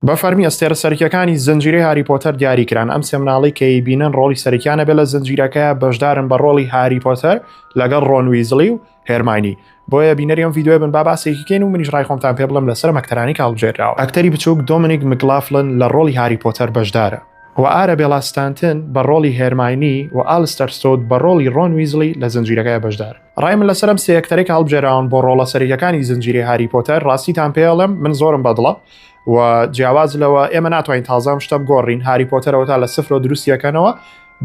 بە فەرمی ئەستێرە سەرکیەکانی زنجیرەی هاری پۆتەر دیاری کران ئەم سێ مناڵی کە ئەیبینن ڕۆڵی سەرکیانە بێ لە زنجیرەکە بەشدارن بە ڕۆڵی هاری پۆتەر لەگەڵ ڕۆن ویزڵی و هێرماینی بۆیە بینەری ئەم ڤیدیۆیە بن با باسێکی کەین و منیش ڕای خۆمتان پێ بڵێم لەسەر ئەم ئەکتەرانی کە هەڵبژێردراوە ئەکتەری بچووک دۆمینیک مکلافلن لە ڕۆڵی هاری پۆتەر بەشدارە و ئارەبێڵا ستانتن بە ڕۆڵی هێرماینی و ئالستەر ستۆد بە ڕۆڵی ڕۆن ویزڵی لە زنجیرەکە بەشدارن. ڕای من لەسەر ئەم سێ ئەکتەرەی کە هەڵبژێراون بۆ ڕۆڵە سەرەکییەکانی زنجیرەی هاری پۆتەر ڕاستیتان پێ ئەڵێم من زۆرم بەدڵە و جیاواز لەوە ئێمە ناتوانین تازە ئەم شتە بگۆڕین هاری پۆتەرەوە تا لە سفرۆ دروستیەکەنەوە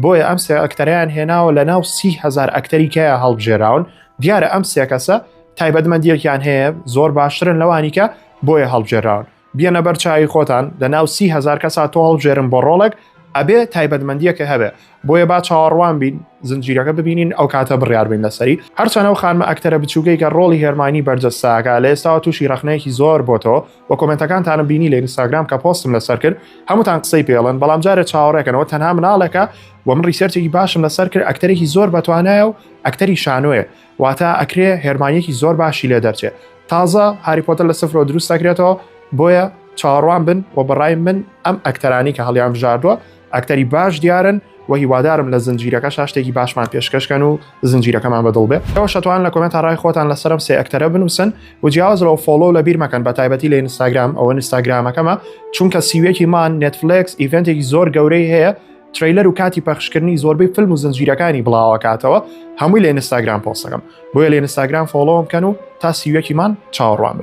بۆیە ئەم سێ ئەکتەریان هێناوە لە ناو سی هزار ئەکتەری کەیە هەڵبژێراون دیارە ئەم سێ کەسە تایبەتمەندیەکیان هەیە زۆر باشترن لەوانیکە بۆیە هەڵبژێراون بیەنە بەر چاوی خۆتان لە ناو سی هزار کەسا تۆ هەڵبژێرن بۆ ڕۆڵێک ئەبێ تایبەتمەندیەکە هەبێ بۆیە با چاوەڕوان بین زنجیرەکە ببینین ئەو کاتە بڕیار بین لەسەری هەرچەنە و خانمە ئەکتەرە بچووکەی کە ڕۆڵی هێرمانی بەرجەستاکە لە ئێستاوە تووشی ڕخنەیەکی زۆر بۆ تۆ و کۆمنتەکانتانم بینی لە ئینستاگرام کە پۆستم لەسەر کرد هەمووتان قسەی پێڵن بەڵام جارێ چاوەڕێکەنەوە تەنها مناڵێکە و من ڕیسەرچێکی باشم لەسەر کرد ئەکتەرێکی زۆر بەتوانایە و ئەکتەری شانۆیە واتە ئەکرێ هێرمانیەکی زۆر باشی لێ دەرچێ تازە هاری پۆتەر لە سفرەوە دروست دەکرێتەوە بۆیە چاوەڕوان بن و بەڕای من ئەم ئەکتەرانی کە هەڵیان بژاردووە ئەکتەری باش دیارن و هیوادارم لە زنجیرەکە شاشتێکی باشمان پێشکەشکەن و زنجیرەکەمان بەدڵ بێ ئەوە شتوان لە کۆمنت ڕای خۆتان لەسەرم سێ ئەکتەرە بنووسن و جیاواز لەەوە فۆلۆ لە بیرمەکەن بە تایبەتی لە ئینستاگرام ئەوە نیستاگرامەکەمە چونکە سیوێکی مان نێتفلکس ئیڤنتێکی زۆر گەورەی هەیە ترەیلەر و کاتی پەخشکردنی زۆربەی فلم و زنجیرەکانی بڵاوەکاتەوە هەمووی لە ئینستاگرام پۆستەکەم بۆیە لە ئینستاگرام فۆڵۆم کەن و تا سیوەکیمان چاوەڕوان بن